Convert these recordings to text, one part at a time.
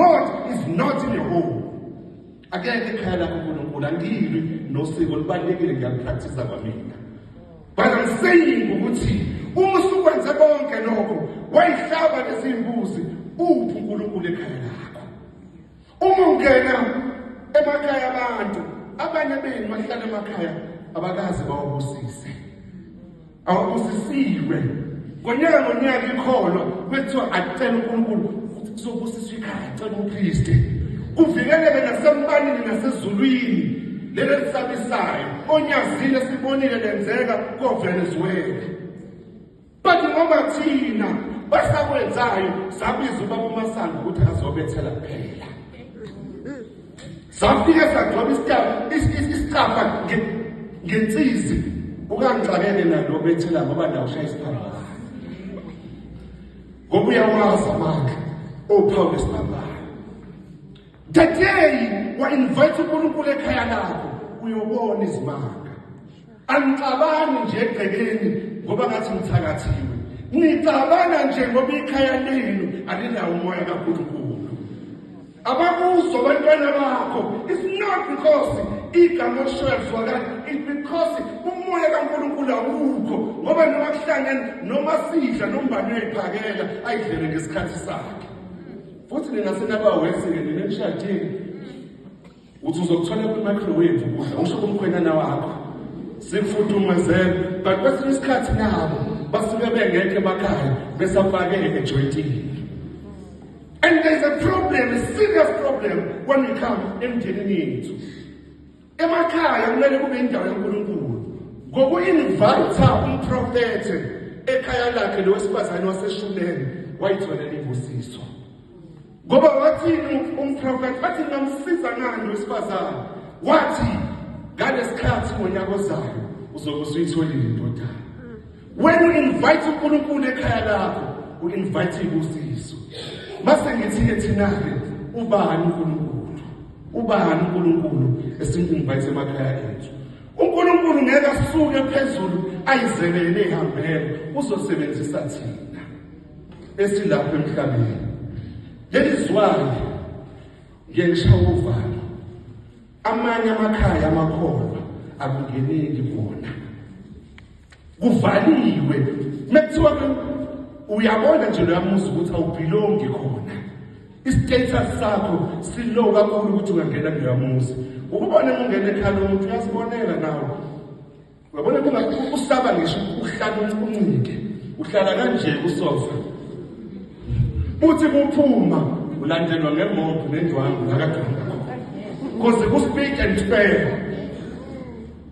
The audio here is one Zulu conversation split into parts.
God is not in your home. Akekho ekhaya lakho uNkulunkulu angilwi nosiko libalekile ngiyapractice kwamina. But I'm saying ukuthi uma usukwenze konke lokho wayihlaba lezimbuzi uphi uNkulunkulu ekhaya lakho. Uma ungena emakhaya abantu abanye benu bahlala emakhaya abakazi bawabusise. awubusisiwe ngonyaka ngonyaka ikholo kwethiwa acela unkulunkulu ukuthi kuzobusiswa ikhaya acela umpriste kuvikeleke nasembanini nasezulwini lelo lisabisayo onyazile sibonile lenzeka kovenezuela but ngoba thina basakwenzayo sabiza ubaba umasango ukuthi azobethela kuphela safike sagcoba isitabu isicafa ngensizi ukangixakele nalo bethela ngoba ndawushaya isiphambano ngoba uyawazi amandla ophawu lesiphambano that day wa-invite unkulunkulu ekhaya lakho uyobona izimanga Angicabangi nje egcekeni ngoba ngathi ngithakathiwe. Ngicabanga nje ngoba ikhaya lenu alinawo umoya kaNkulunkulu. Abakuzo abantwana bakho. It's not because igama okushoyo lizwakala. It's because umoya kaNkulunkulu awukho. Ngoba noma kuhlangene noma sidla nombani uyayiphakela ayidlele ngesikhathi sakhe. Futhi nina senabawenzi-ke nina emshadini uthi uzokuthola kwi-microwave ukudla usho kumkhwenyana wakho sikufudumezele but kwesinye isikhathi nabo basuke bengekho emakhaya besafakele ejoyintini and there's a problem a serious problem when we come emndenini yethu emakhaya kumele kube indawo kankulunkulu ngoku-invayitha umprofethe ekhaya lakhe lowesifazane waseshumeni wayitholela imbusiso Ngoba wathini umprofethi wathi ngamsiza ngani wesifazane wathi ngalesikhathi ngonyaka ozayo uzobe usuyitholile indodana when you invite uNkulunkulu ekhaya lakho u invite ubusiso mase ngithi ke thina ke ubani uNkulunkulu ubani uNkulunkulu esinginvite emakhaya ethu uNkulunkulu ngeke asuke phezulu ayizelele ihambele uzosebenzisa thina esilapha emhlabeni leli zwane ngengisha uvalo amanye amakhaya amakholwa akungeneki bona kuvaliwe mekuthiwa uyabona nje loyamuzi ukuthi awubhilongi khona istatus sakho silow kakhulu ukuthi ungangena kuloyamuzi ukubona ungena ekhaya lomuntu uyazibonela nawe Uyabona kuba usaba ngisho uhlala uncike. Uhlala kanje usofa. Uthi kuphuma ulandelwa ngemoto nendwangu nakadwangu. Kuze ku speak and spare.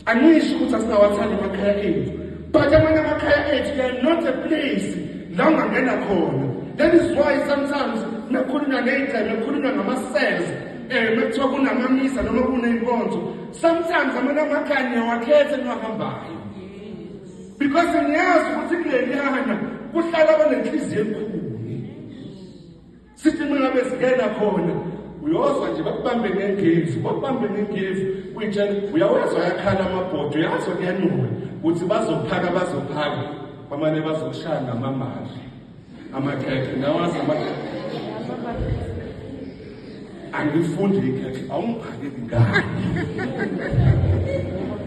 Angisho ukuthi asinawathanda amakhaya ethu. But amanye amakhaya ethu they are not a place la ungangena khona. That is why sometimes nakhuluma ngeyigceme, nakhuluma ngama-cells, um eh, mekuthiwa kunamamisa noma kuney'nkonzo Sometimes amanye amakhaya niyawakhetha niwahambayo. Because niyazi ukuthi kuleliyana kuhlala abanenhliziyo enkulu. Sithi mina besingena khona uyozwa nje bakubambe ngengevu bakubambe ngengevu uyitshela uyawezwa yakhala amabhodwe yazo kuyanuka ukuthi bazophaka bazophaka bamane bazokushaya ngamamali amakhekhe nawazi angifundi ikhekhe awungiphake ngani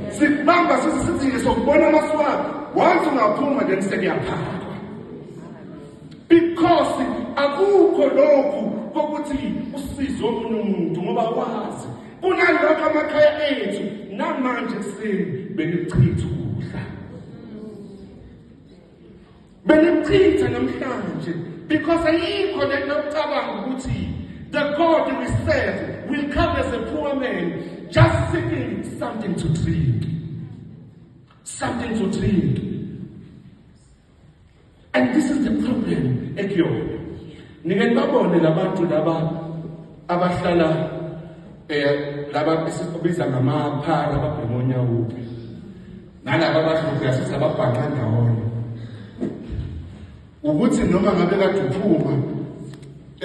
sikubamba sisi sithi sokubona amaswala once ungaphuma then sekuyaphaka because akukho lokhu kokuthi usize omunye umuntu ngoba wazi kunalokho amakhaya ethu namanje sini benichitha ukudla benimchitha namhlanje because ayikho le nto ocabanga ukuthi the god we serve will come as a poor man just seeking something to drink something to drink and this is the problem ekuyona nike nibabone labantu laba abahlala eh laba esibiza ngamaphara ababhemonya uphi nalaba abadlubhula sizababhanqa ndawonye ukuthi noma ngabe kade uphuma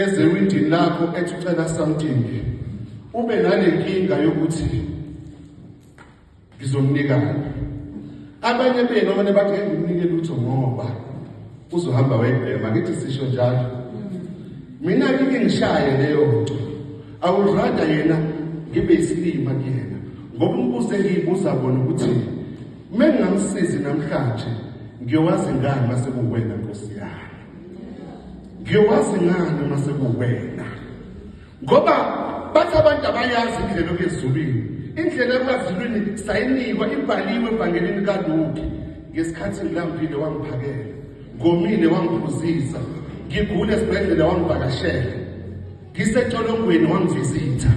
ezewindini lakho ethi ucela something ube nale nkinga yokuthi ngizomnikana abanye benu abane bathi engimnike lutho ngoba uzohamba wayibhema ngithi sisho njalo mina ngike ngishaye leyo nto awurada yena ngibe isilima kuyena ngoba umbuzo engiyibuza kona ukuthi uma ngingamsizi namhlanje ngiyowazi ngani uma sekuwena nkosi yami ngiyowazi ngani uma sekuwena Ngoba bathi abantu abayazi indlela okuyezulwini. Indlela yokwazulwini sayinikwa ibhaliwe ebhangelini kaLuke. Ngesikhathi ngilambile wangiphakela, ngomile wangiphuzisa, ngigule esibhedlela wangivakashela, ngisecolongweni wangivizitha.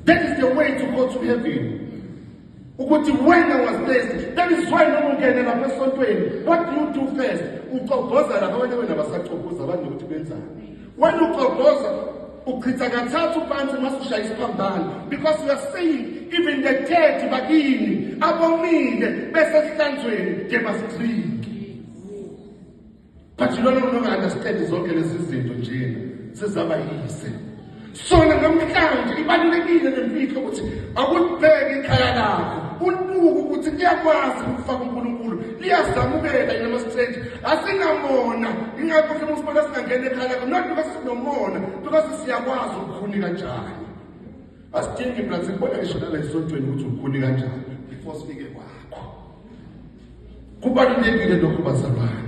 That is the way to go to heaven. ukuthi when I was blessed bengizwayo noma ungene lapha esontweni what do you do first ucogoza lapha abanye wena basacogoza abanye ukuthi benzani wena ucogoza uchitha kathathu phansi uma ushaya isiphambano because you are saying even the dead bakini abomile besesihlanzweni nje basidrinki but lona muntu onga-understandi zonke lezi zinto nje zizaba yise sona namhlanje ibalulekile nemfihlo ukuthi akulibheke ikhaya lakho ulibuke ukuthi liyakwazi ukufaka unkulunkulu liyazamukela yena ama-straight asinamona ingakho mhlawumbe usibona singangena ekhaya lakho not because sinomona because siyakwazi ukukhuni kanjani asidingi mnanzi kubona ngisho nala esontweni ukuthi ukhuni kanjani before sifike kwakho Kubalulekile lokhu bazalwane.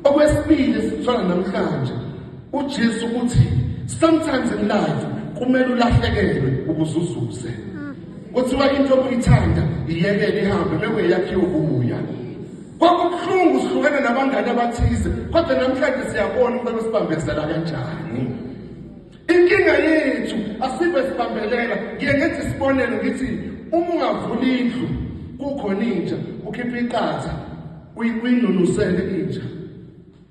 Okwesibili esithola namhlanje uJesu uthi sometimes in life kumele ulahlekelwe ukuze uzuze. Kuthiwa into obuyithanda iyekele ihambe bebe yakhiwe kubuya. Kwakubuhlungu sihlukene nabangane abathize kodwa namhlanje siyabona umuntu obesibambezela kanjani. Inkinga yethu asibe sibambelela ngiye ngenza isibonelo ngithi uma ungavula indlu kukhona inja ukhipha iqatha uyinunusele inja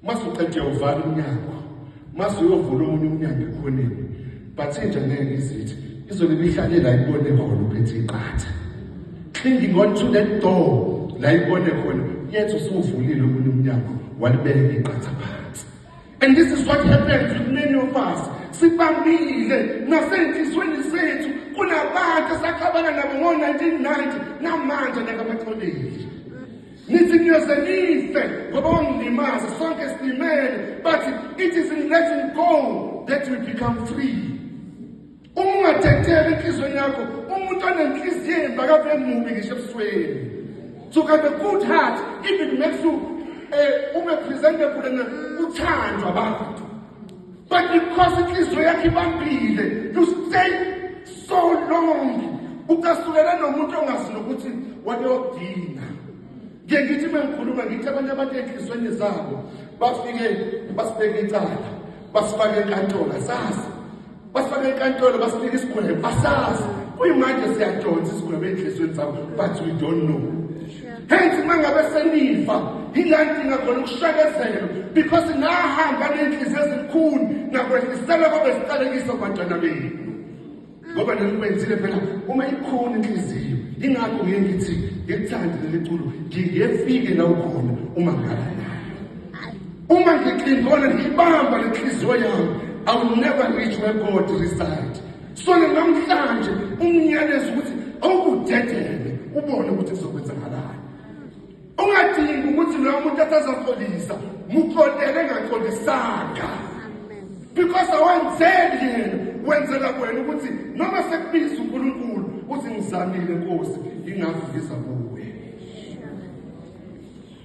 mase uqede uvala umnyango mase uyovula omunye umnyango ekhoneni but inja ngeke izithi izona ibihlalela ibone khona uphethe iqatha clinging on to that door la ibone khona yethu usuvulile omunye umnyango walibeka iqatha phansi And this is what happens with many of us. Sibambile nasenhlizweni zethu kunabantu esaxabana nabo ngo-1990 namanje nakabaxolile. Nithi niyoze nife ngoba wangilimaza sonke silimele but it is in letting go that we become free. uma ungadedeli enhliziyweni yakho umuntu onenhliziyo embi akabe mubi ngisho ebusweni to have a good heart even makes you um ube presentable and uthandwa abantu but because inhliziyo yakho ibambile you stay so long ukasukela nomuntu ongazi nokuthi wabeyodinga ngiye ngithi uma ngikhuluma ngithi abanye abantu ey'nhliziyweni zabo bafike basibeke icala basifake enkantolo asazi basifake enkantolo basinika isigwebo asazi kuyimanje siyajonsa isigwebo ey'nhliziyweni zabo but we don't know hence uma ngabe senifa yila ndinga khona ukushakezela because nahamba ney'nhliziyo ezilukhulu nakwehlisela kwabe siqalekiso bantwana benu ngoba nelikwenzile phela uma ikhona inhliziyo ingakho ngiye ngithi ngekuthande leli culo ngingefike la ukhona uma ngala uma ngixingona ngiyibamba lenhliziyo yami i will never reach where god reside so namhlanje umnyalezo ukuthi awukudedele ubone ukuthi kuzokwenzakalani ungadingi ukuthi loyo muntu atazaxolisa muxolele engaxolisanga because awenzeli yena wenzela kwena ukuthi noma sekubiza unkulunkulu uthi ngizamile nkosi ingakho ngiza kuwe